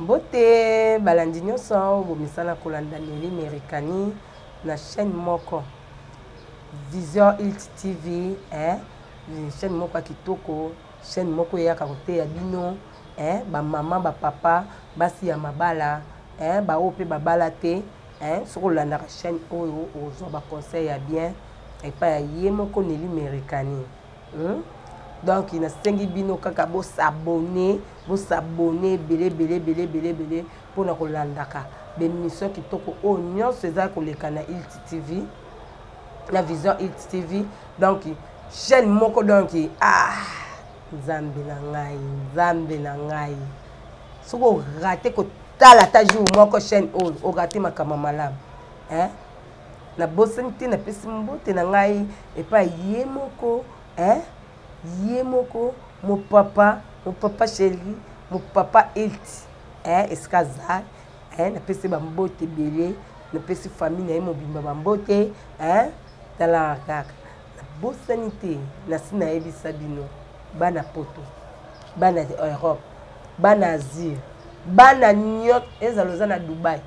mbote balandi nyonso oyo bomesana kolanda neli merikani na chaîne moko vision ilt tv eh? chaîne moko ya kitoko chaîne moko eyaka koteya bino eh? bamama bapapa basi ya mabala eh? baoyo mpe babala te eh, soki olandaka chaîne oyo ozwa baconseil ya bien epai ya ye moko neli merekani hmm? donc nasengi bino kaka bosabone bosabone ebele ebele ebele ebele ebele mpo na kolandaka bemission kitoko oyo nyonso eza koleka na ilt tv na vision ilt tv donc chaîne moko donc ah nzambe na ngai nzambe na ngai soki orate kotala ata jour moko chaîne oyo orate makambo malamu eh? nabosani te napesi mbote na ngai epai ye moko eh? ye moko mopapa mopapa sheli mopapa elti eh? esika azali eh? napesi bambote ebele napesi famille na ye mobimba bambote eh? talaka kaka nabosani te nasi nayebisa bino bana poto bana europe bana asie bana nyonso ezala oza na dubai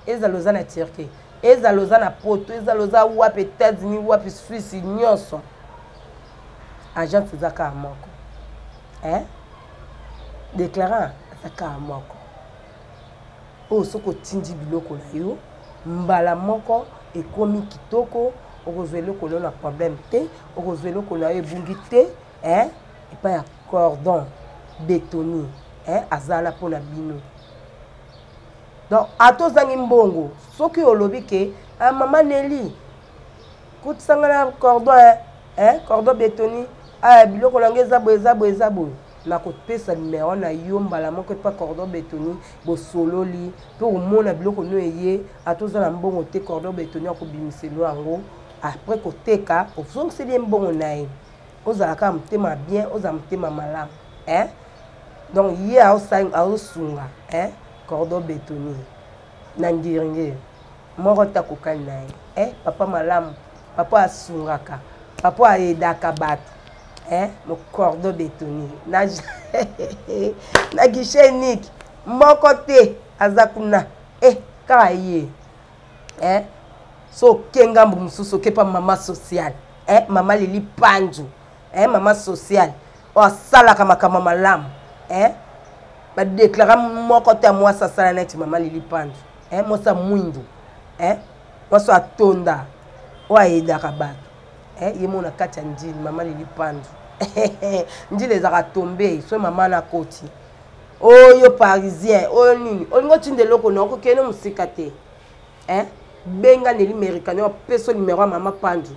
ezala oza na turquie ezala oza na poto ezala oza wapi états-unis wapi swisse nyonso agence eza kaka moko eh? declarant eza kaka moko oyo soki otindi biloko na yo mbala moko ekomi kitoko okozwa eloko na yo na problème te okozwa eloko na yo ebungi te eh? epai ya cordon betoni eh? azala mpo na bino donc ata ozangi mbongo soki olobi ke ah, mama neli kotisanga na cordon eh? eh? cordon betoni ah, biloko na ngai eza boye eza boye eza boye nakopesa nimero na yo mbala moko epa cordon betoni bosololi mpe omona biloko no eye ata oza na mbongo te cordon betoni akobimiselo yango apres koteka ozongiseli ye mbongo na ye ozala kaka motema bien ozala motema malamu eh? donc ye aosunga eh? cordon betoni na ngiringiri moko te akokani na ye eh, papa malamu papa asungaka papa ayedaka bato eh, mocordo betoni na, na guichet unique moko te aza kuna eh, kaka ye eh, so oke ngambo mosusu oke mpa mama sociale eh, mama lili panju eh, mama sociale oyo asalaka makambo malamu eh, badeklara moko te ya mwasi asala neti mama lili panju eh, mwasi ya mwindu eh, mwasi oyo atonda oyo ayedaka bato eh, ye mona kati ya ndini mama lili pandu ndile ezalaka tombe soki mama na koti oyo parisien oyo nini olingi otinda eloko na okokende mosika te eh? benga neli merikani opeso nimero ya mama pandu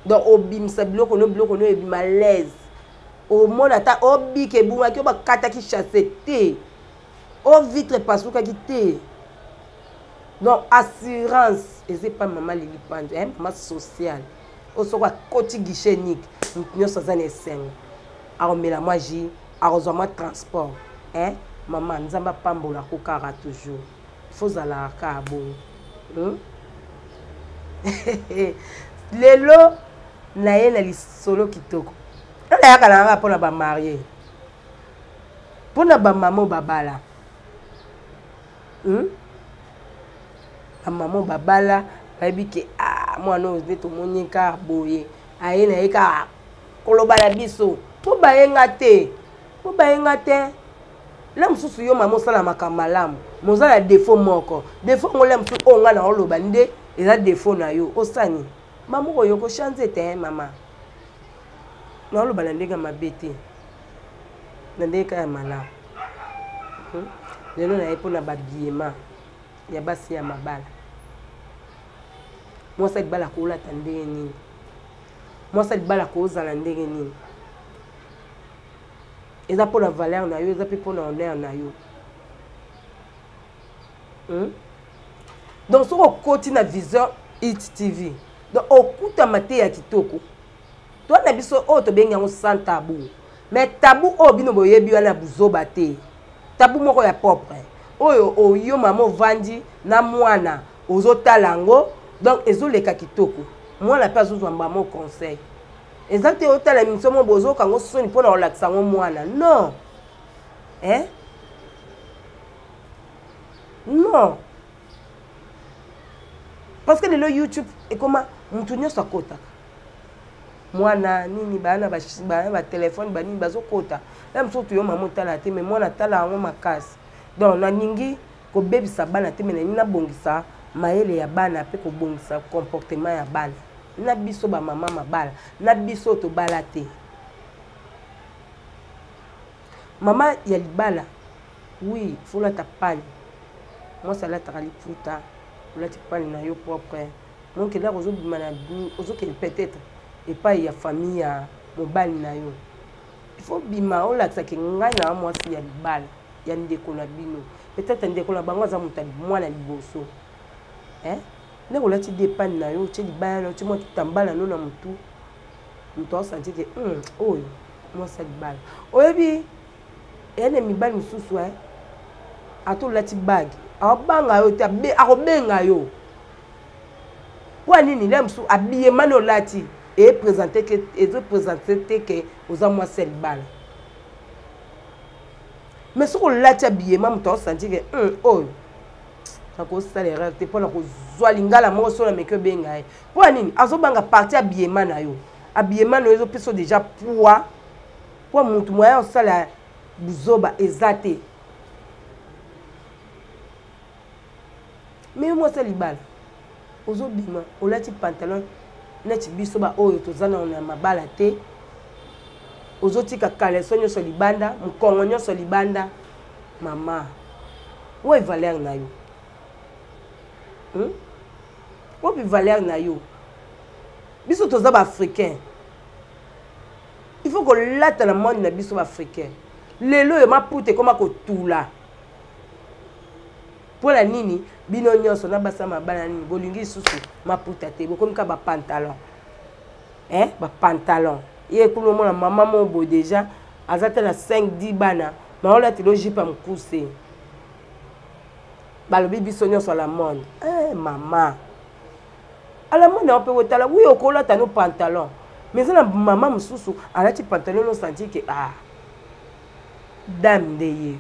donc obimisa biloko no biloko no ebima laise omona ata obika ebungaki oyo bakataki chasse te o vitre epasukaki te donc assurance eza epai mama lili panzo eh, mama sociale oyo soki akoti guichet nike moto nyonso aza na esengo akomela mwa ji akozwa mwa transport eh, mama nzambe apambola ko kaka toujours fozalaka kaka bongo hmm? lelo naye na lisolo kitoko nayaka na yanga mpo na bamarie mpo na bamama oyo babala hmm? bamama oyo babala bayebi ke ah, mwana oyo nde tomoni kaka boye aye na ye kaka koloba na biso mpo baye nga te mpo baye nga te la mosusu yo mama osala makambo malamu moza na defo moko defo yango la mosusu oyo ngai naoloba nde eza defo na yo osani mama oyo kochanze te mama naoloba na ndenge ya mabe te na ndenge kaka ya malamu hmm? lelo naye mpo na babiema ya basi ya mabala mwasi ya libala koolata ndenge nini mwasi ya libala koozala ndenge nini eza mpo na valeur na yo eza mpe mpo na honneur na yo hmm? donc soki okoti na viseur it tv donc okutama te ya kitoko to na biso oyo tobengi yango sans tabu mais tabu oyo bino boyebi wana ya buzoba te tabu moko ya propre oyo oyo mama ovandi na mwana ozotala yango donc ezoleka kitoko mwana mpe azozwa mbamo conseil eza te otala emission mo bozoka yango soni mpo na kolakisa yango mwana non eh? non parce que lelo youtube ekoma motu nyonso akotaka mwana nini bana bana batelefone banini bazokota ya mosusu toyo mama otala te me mwana atala yango makasi donc nalingi kobebisa bana te me nalingi nabongisa mayele ya bana mpe kobongisa comportement ya bana na biso bamama mabala na biso tobala te mama ya libala Oui, faut lata pale. Moi ça lata liputa. Olati pale na yo propre. Mon que là ozo bima na ozo que peut-être et pas ya famille ya mobali na yo. Il faut bima olakisa que ngai na moi si ya libala ya ndeko na bino. Peut-être ndeko na bango aza mutu mwana liboso. Hein? Là olati depane na yo, tse libala na yo, tse mwa kitambala no na mutu. Mutu asanti que hum, oyo moi ça libala. Oyebi eya na mibali mosusu e ata olati bage aobanga yo te akobenga yo mpo ya nini lia mosusu abiyemani olati ezopresente te ke oza mwasi ya libala me soki olati abiyema moto aosanti ke hmm, oyo nakosala erreur te mpo na kozwa lingala moko soki nameki obenga ye mpo ya nini azobanga parti abiyema na yo abiyema na yo ezopesa deja poids mpo motu moya osala buzoba eza te me yo mwasi ya libala ozobima olati pantalon neti biso baoyo toza na na mabala te ozotika kaleso nyonso libanda mokongo nyonso libanda mama oyo valeur na yo hmm? oyo valeur na yo biso toza baafricain il faut kolata na monde na biso baafricain lelo oyo maputa ekoma kotula mpo na nini bino nyonso na basa mabala nini bolingi lisusu maputa te bokomi ka bapantalon eh, bapantalon ye kuna omona mama moo bo deja aza te na 5 10 bana maolatela ojipa mokuse balobi biso nyonso la monde eh, mama alamo na yo mpe otala wi okolata no pantalon mais eza na mama mosusu alati pantalon no sentir ke a ah, dame nde yeyo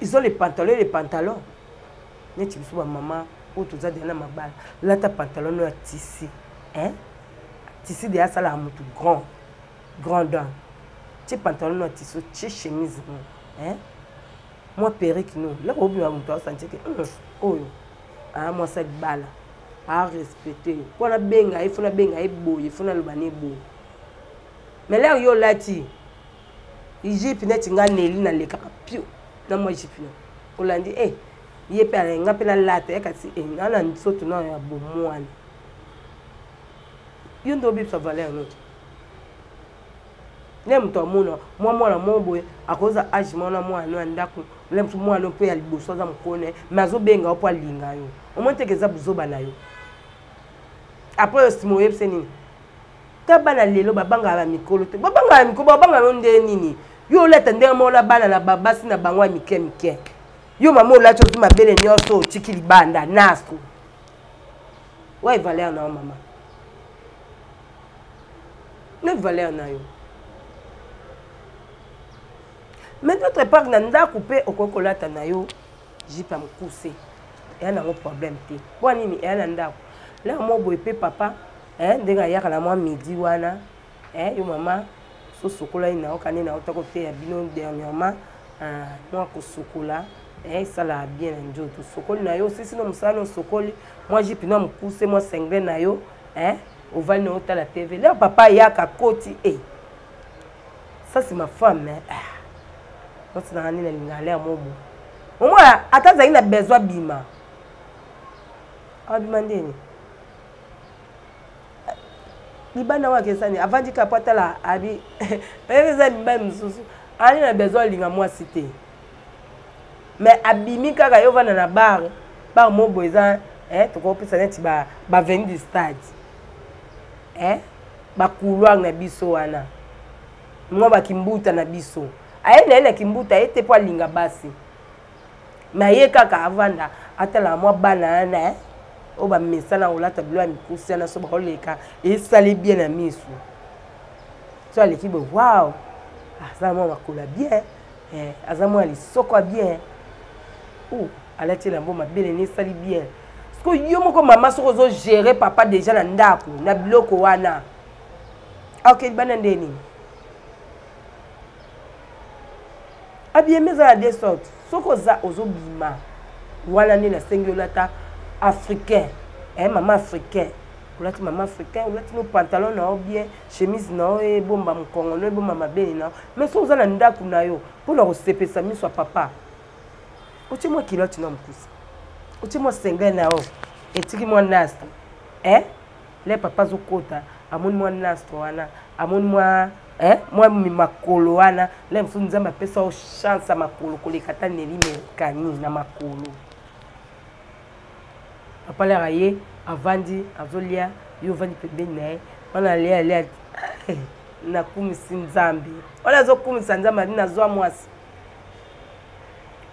izo le pantalon le pantalon neti biso bamama oyo toza deya na mabala lata pantalon no ya tisi hein? tisi deya asalaka motu grand grand dame tie pantalon no ya tisi otie chemise no hein? mwa perike no eloko obima moto asanti ke hmm, oyo aa mwasi ya libala arespecte yo mpo nabenga ye fo nabenga ye boye fo naloba ne boye melere yo olati egypte neti nga neli nalekaka pio na mwa egypte no olandi e eh, ye mpe alenga mpe nalata ye kasi eh, nga na nsoto na ya bomwana yo nde obebisa valeur note nde moto amona mwa mwana moko boye akoza age moko na mwana no ya ndako na mosu mwana no mpe ya liboso aza mokolo na ye mai azobenga yo mpo alinga yo omoni teke eza buzoba na yo apres yo nsima oyebise nini ta bana lelo babangaka na mikolo te babangaka na mikolo babanga yo nde nini yo olata ndenge moko na bana na babasi na bango ya mike mike yo mama olati ozwi mabele nyonso otiki libanda naso waye valeur na yo mama na valeur na yo mais d'autre part na ndako mpe okoki kolata na yo jipe ya mokuse eya nango problème te mpo nini eya na ndako laa mwa boye mpe papa eh, ndenge ayaka na mwa midi wana eh, yo mama sosokolai na yo kani na yo takoteya bino dernièrement ah, mwa kosokola eh, esalaka bien na nzoto osokoli na yo osisi na mosala na osokoli mwa jipe na mokuse mwa senglen na yo eh, ovandi na otala tv leo papa ayaka akoti e eh. ça c'est ma femme eh. Ah. otinaka nini alingaka lea mobo omona ata azali na besoin abima abima ndeni libanda wana kesani avandi kaka po atala abi oyebi eza mibali mosusu ali na besoin alinga mwasi te mais abimi kaka yo vanda na bar bar mobo eza eh, tokopesa neti baveni ba du stade eh, bacouloir na biso wana mwa bakimbuta na biso aye na ye na kimbuta aye te mpo alinga basi me aye kaka avanda atalaka mwa bana yana eh, oyo bamesana kolata bilo ya mikusi yana so bakoleka esali bien na misu so aleki boye wow aza mwa makolo ya bien eh, aza mwana lisoko ya bien oh, alati elambo mabele ne esali bien siko yo moko mama soki ozogere papa deja na ndako na biloko wana aoke libanda nde nini abiyemi eza na de sorte soki oza ozobima wana nde nasengi olata africain eh, mama africain olati mama africain olati no pantalon na yo bien chemise na yo ebomba mokongo no ebomba mabele na yo mais soki oza na ndako na yo mpo na kosepesa miso ya papa otie mwa kiloti na mokusa otie mwa senge na yo etiki mwa nastre eh? le papa azokota amoni mwa nastre wana amoni mwa eh? mwa makolo wana le mosusu nzambe apesa yo chance ya makolo koleka ata neli merkani na makolo papa lere aye avandi azolia yo ovandi pembeni na ye wana alia alia eh, nakumisi nzambe wana azokumisa nzambe adi nazwa mwasi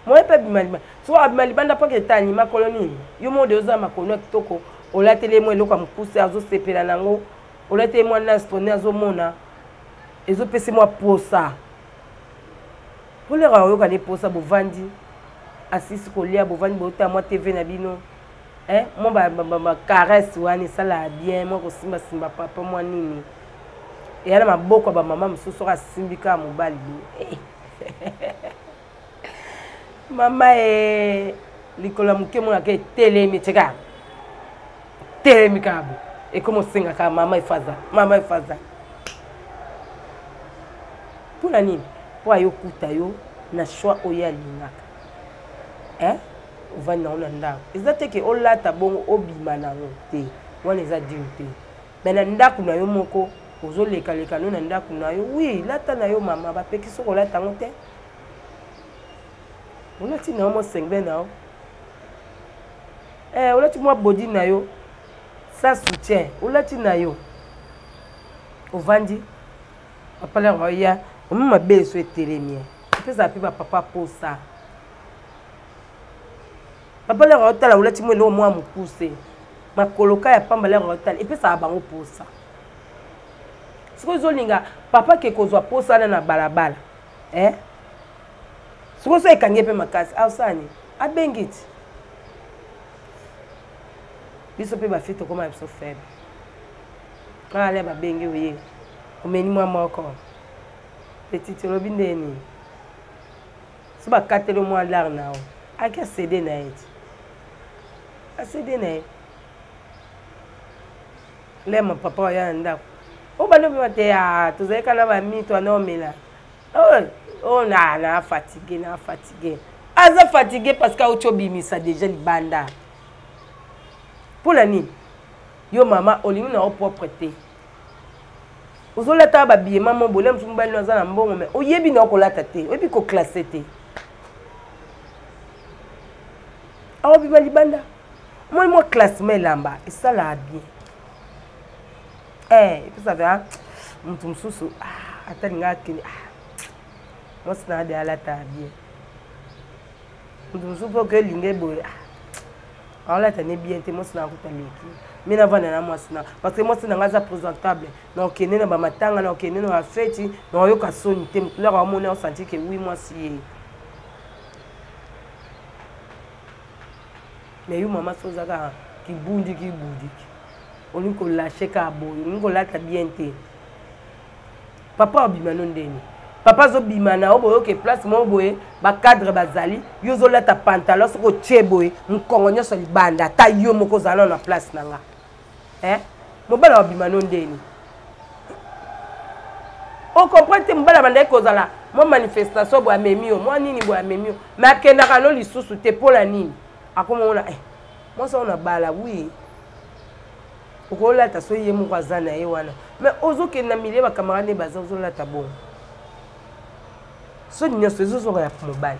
moye mpe abima libanda soki abima libanda mpo keta anima kolo nini yo mode oza makono ya kitoko olateli ye mwa eloko ya mokuse azosepela na yango olateli mwa nastone azomona ezopesi mwa posa kolera oyoka nde mposa bovandi asisi kolia bovandi botala mwa tv na bino eh, mwa bacaresse wana esalaka bien mwa kosimbasimba papa mwa nini eya na maboko ya bamama mosusu oyo asimbi kaka mobali boye eh. mama e likolo ya moke monaka etelemi tika telemi kaka bo ekomi osengaka mama efaza mama efaza mpo na nini mpo ayokuta yo na choix oyo alingaka eh? ovandi nango na ndako eza te ke olata bongo obima nango te wana eza dime te me na ndako na yo moko ozolekaleka no na ndako na yo wi lata na yo mama bapekisi kolata yango te olati na yo mwa sengbe na yo eh, olati mwa bodi na yo sans soutien olati na yo ovandi bapalaka baya omi mabe eso etelemi epesaka mpe bapapa posa papa lere otala olati mwa eloko mwa mokuse makoloka ya pamba lere otala epesaka bango posa sikoyo ozolinga papa ke kozwa posa wana na balabala eh? soko so ekangi ye mpe makasi ausani abengi ti biso mpe bafi tokoma biso faible ale babengi oye omeni mwa moko petite olobi nde nini so bakateli mwa lar na yo aki asede na ye ti asede na ye lema papa oya na ndako obanda obima te ah, tozali kana bamito wana omela oyo oh, oh, na na fatigue na fatigue aza fatigue parce que auti obimisa déjà libanda mpo na nini yo mama olingi na yo propre te ozolata babiye mama obole mosu mobali no aza na mbongo me oyebi na yo kolata te oyebi koklasse te aobima libanda moi mwa classement elamba esalaka bien eh epesa mpe ah, moto mosusu ah, ata linga akende ah, mwasi na ade alata bien moto mosusu mpe oke linga eboye aolata ne bien te mwasi na akuta leki mi navanda na mwasi na parce que mwasi na ngai aza présentable naokende na bamatanga naokende na bafeti naoyoka soni te moto laka wamoni aosanti ke wi mwasi ye mais yo mama so oza kaka kibundi kibudiki olingi kolashe kaka boye olingi kolata bien te papa obima no ndeni papa azobima na yo boyoke place moko boye bacadre bazali yo ozolata pantalon soki otie boye mokongo nyonso libanda ata yo moko ozala na place na nga eh? mobali wa bima no ndeni ocomprendre te mobali abandaki kozala mwa manifestation boye amemi yo mwa nini boye amemi yo me akendaka no lisusu te mpo na nini akomona eh, mwasi yango na bala wi okolata so ye moko aza na ye wana me ozokende na milie bakamarade baza ozolata bongo soni nyonso ezozonga ya mobali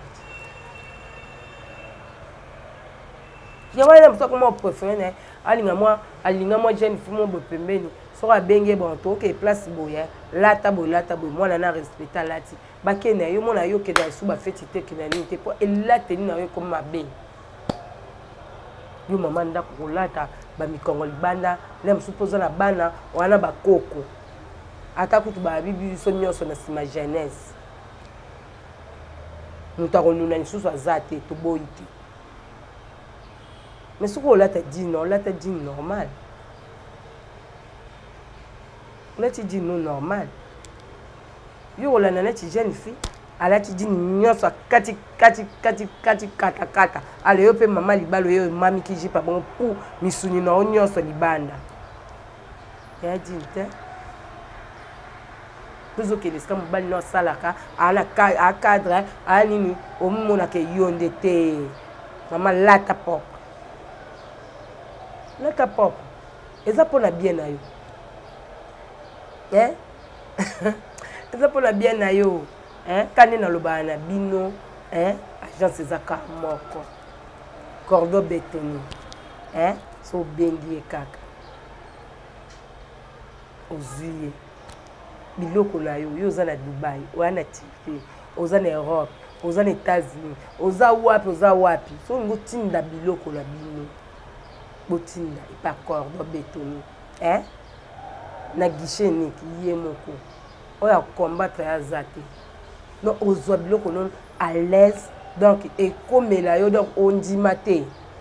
yango wana moto akoma prefere na ye alinga mwa alinga mwa jeune fille mo boye pembeni soki abenge bon toke place boye lata boye lata boye mwana na respecte alati bake na yo mwana yo okenda lisusu bafeti te okenda nini te mpo elateli na yo ekomi mabe yo mama ndako kolata bamikongo libanda na mosusu mpo oza na bana wana bakoko ata kutu babibi biso nyonso na nsima jeunesse moto akonuna lisusu aza te toboyi te mais soki olata jean olata jean normal olati jean no normal yo kolanda neti jeune fille alati jean nyonso akati kati kati kati kata kata ale yo mpe mama libala oyo emamiki jipa bongo pu misuni na yo nyonso libanda ya dine te tozokende esika mobali no asalaka acadre aya nini omimonaka yo nde te mama lata pop lata pop eza mpo na bien na yo eh? eza mpo na bien na yo eh? ka nde nalobaka na bino eh? agence eza ka moko cordo betoni eh? so obengi ye kaka ozwi ye biloko na yo yo oza na dubai oya na turki oza na europe oza na états-unis oza wapi oza wapi so olingi otinda biloko na bino botinda epa cordo betoni eh? na guichet niki ye moko oyo akombatre aza te no ozwa biloko nono à l'aise donc ekomela yo donc ondima te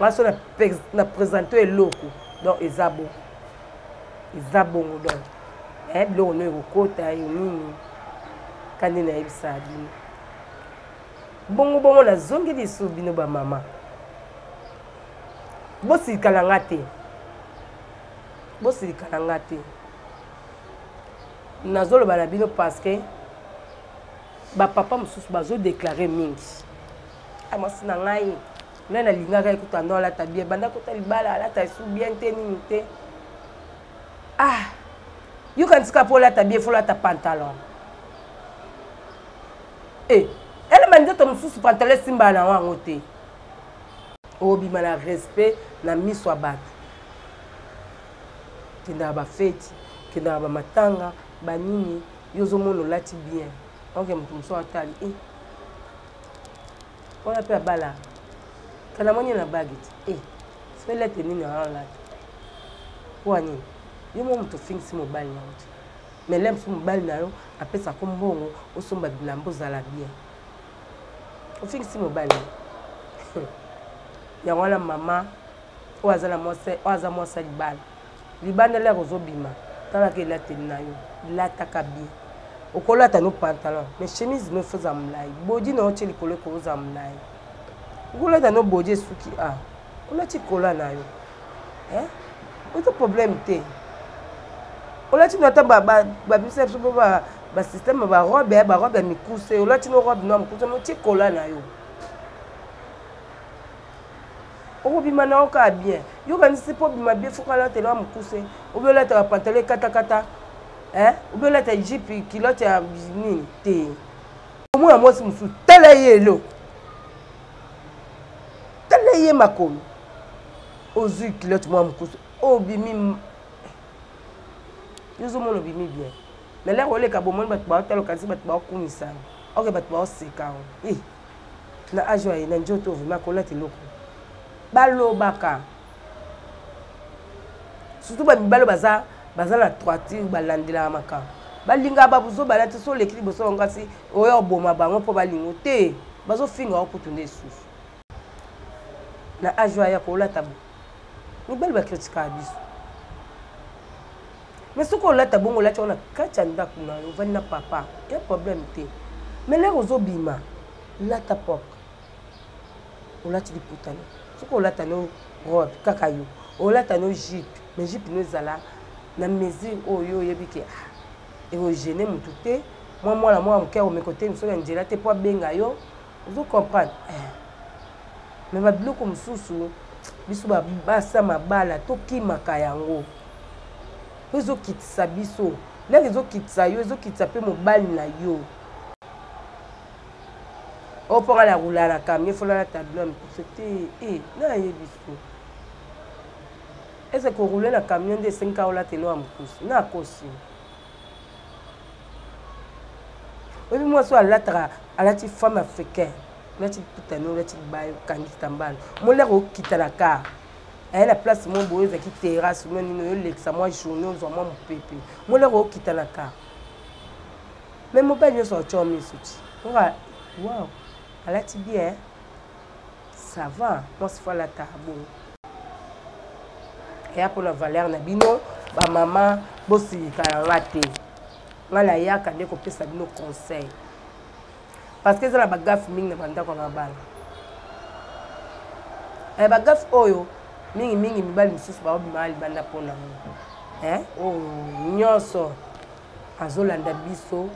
baso na, na presente eloko donc eza bongo eza bongo donc eh, biloko no ekokota yo nini kandi nayebisa bino bongo bongo nazongi lisu bino bamama bosilikala nga te bosilikala nga te nazoloba na bino parce que bapapa mosusu bazodeklare mingi amasi ah, na ngai nga nalingaka ye kutu ando alata bien banda kota libala alata esu bien te nini te ah yokanisika mpo olata bien fo olata pantalon e eh, elema nzoto mosusu pantalon esimbala na yango yango te obima na respect na miso ya bato kendaka bafeti kendaka bamatanga banini yo ozomona olati bien oke moto mosusu atali e eh. wana mpe abala kana moni na bagi ti e eh, felete nini aolata mpo ya nini yo mo moto ofingisi mobali na yo ti mais lem so mobali na yo apesa ko mbongo osomba bilamba ozala bien ofingisi mobali yango wana mama oyo aza na mwasi oyo aza mwasi ya libala Libanda lya kozo bima talaka elateli na yo lataka bien okolata no pantalon mais chemise no faut za mulayi bodi na yo tie likolo eko oza mulayi okolata no bodi esuki a ah, olati kola na yo eh? oza problème te olati no ata babimisa biso bo basystème barobe ya barobe ya mikuse olati no robe no ya mokuse no tie kola na yo okobima na yo kaka bien yo kanisi mpo obima bien fo kalata elwa mokuse obi olataka pantalo ekatakata obi olata jipe kilote ya nini te omona mwasi mosusu tala ye elo tala ye makolo ozwi kilote mwa mokuse obimi yo ozomona obimi bien na lere oleka bomoni bato baotala okanisi bato baokumisana oke bato baoseka yango na age oyo na nzoto oyo vraimen akolata eloko balobaka surtout bamibali oyo baza baza na troiture balandelaka makambo balingaka babuzo balati so oleki liboso bango kasi oyo oboma bango mpo balingo te bazofinga yango kutu nde lisusu na age oyo aya kolata bo mibali bakritikaka biso mais soki olata bongo olati yango na kati ya ndako na yo ovandi na papa ya problème te mais lere ozobima lata propre olati liputani soki olata no robe kaka yo olata no jipe mais jipe no ezala na mesure oyo oyebi ke ah, ekogene motu te mwa mwana mwa moke akomeka oteni soki ya nzela te mpo abenga yo ozo comprendre eh. me babiloko mosusu biso babasa mabala tokimaka yango po ezokitisa biso ndenge ezokitisa yo ezokitisa mpe mobali na yo oyo mpo nga nakola na camion fona na tableau ya mikuse te e nayebi so ese korule na camion nde esengaka olata elo ya mokuse nakosi oyebi mwasi oyo alataka alati femme africain olati putani olati baye okangi kitambala molaka okita na kar aye na place moko boye ezalaki terrasse mwa nini oyolekisa mwa journée ozwa mwa mopepe molaka okita na kar me mobali nyonso atyo miso ti oka wow alati bien ça va mwasi fo alataka bongo eya mpo na valeur na bino bamama bosilika na nga te ngai nayaka nde kopesa bino conseil parce que eza na bagafe mingi na bandako ya mabala eh, bagafe oyo mingimingi mibali mosusu baobimaka libanda mpo na ngo eh, oyo oh, nyonso azolanda biso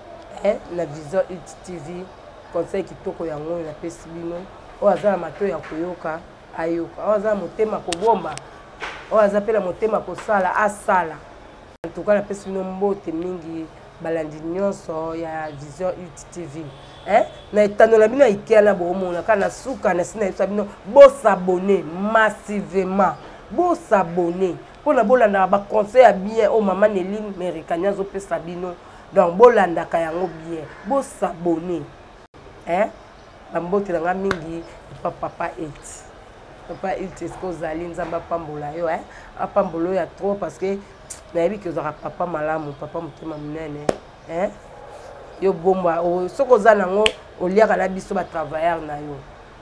eh, na vision it tv conseil kitoko yango oyo napesi bino oyo aza na mato ya koyoka ayoka oyo aza na motema kobomba oyo aza mpe na motema kosala asala antuka napesi bino mbote mingi balandi nyonso ya vision ut tv eh? na etando na bino ya ikea na boomona kaka na suka na sina yebisa bino bosabone massivement bosabone mpona bolandaka baconseil ya bien oyo mama nelin merikani azopesa bino donc bolandaka yango bien bosabone eh? bambote na nga mingi epa papa eti papa eti eske ozali nzambe apambola yo eh? apambola oyo ya trop parce que nayebi ke ozalaka papa malamu papa motema monene eh? yo bomba soki oza nango oliaka na biso batravailleur na yo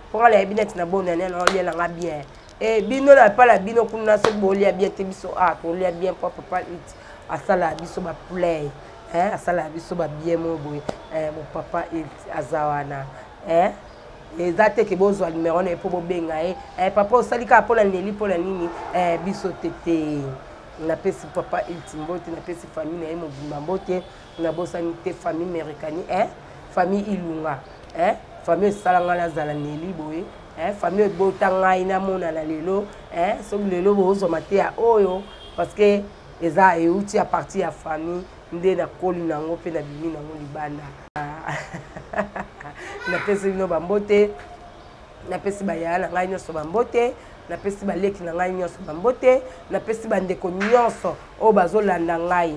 mpo nga nayebi neti na bonane na olia na nga bien Eh, bino na pala bino kuna soki bolia bien te biso a ah, tolia bien po papa it asala biso ba play eh, asala biso ba bien mo boye eh, mo papa it aza wana eh, eza te ke bozwa numero na ye mpo bobenga ye eh, papa osali kaka mpo na neli mpo na nini eh, biso te te napesi papa ilti mbote napesi famille na ye mobimba mbote nabosani te famille merikani eh? famille ilunga eh? famille esala ngai nazala neli boye eh? famille ebota ngai namonana lelo eh? soki lelo bozwa mateya oyo parce que eza euti ya parti ya famille nde nakoli na yango mpe nabimi na yango libanda napesi bino bambote napesi bayaya na ngai nyonso bambote napesi baleki na ngai nyonso bambote napesi bandeko nyonso oyo bazolanda ngai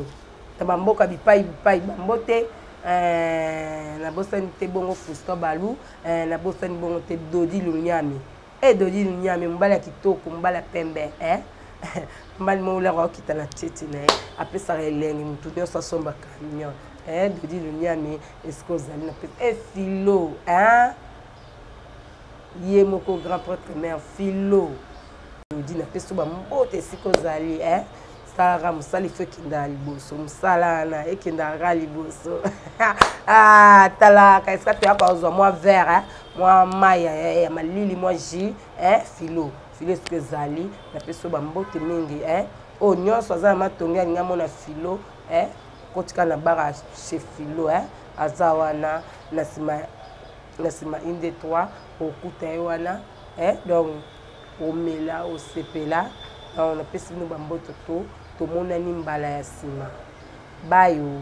na bamboka bipai bipai bambote eh, nabosani te bongo fusto balu eh, nabosani bongo te dodi lunyami e eh, dodi lunyami mobali ya kitoko mobali ya pembe eh? mobali moko olaka okita na tete na ye apesaka elengi motu nyonso asomba camion eh, dodi lunyami esika ozali na pesa efilo eh, eh? ye moko grand prêtre mère philo elodi na peso bambote esika ozali eh? sara mosala ifo ekenda liboso mosala wana ekendaka liboso ah, talaka esika toya kozwa mwa vere eh? mwa mai eh, ya malili mwa ji eh? filo filo esika ezali na peso bambote mingi eh? oyo nyonso aza na matongi alingi amona filo eh? kotika na bara chez filo eh? aza wana na nsima na nsima une de trois okuta ye wana eh, donc omela osepela donc napesi bino bamboto to tomonani mbala ya nsima bayo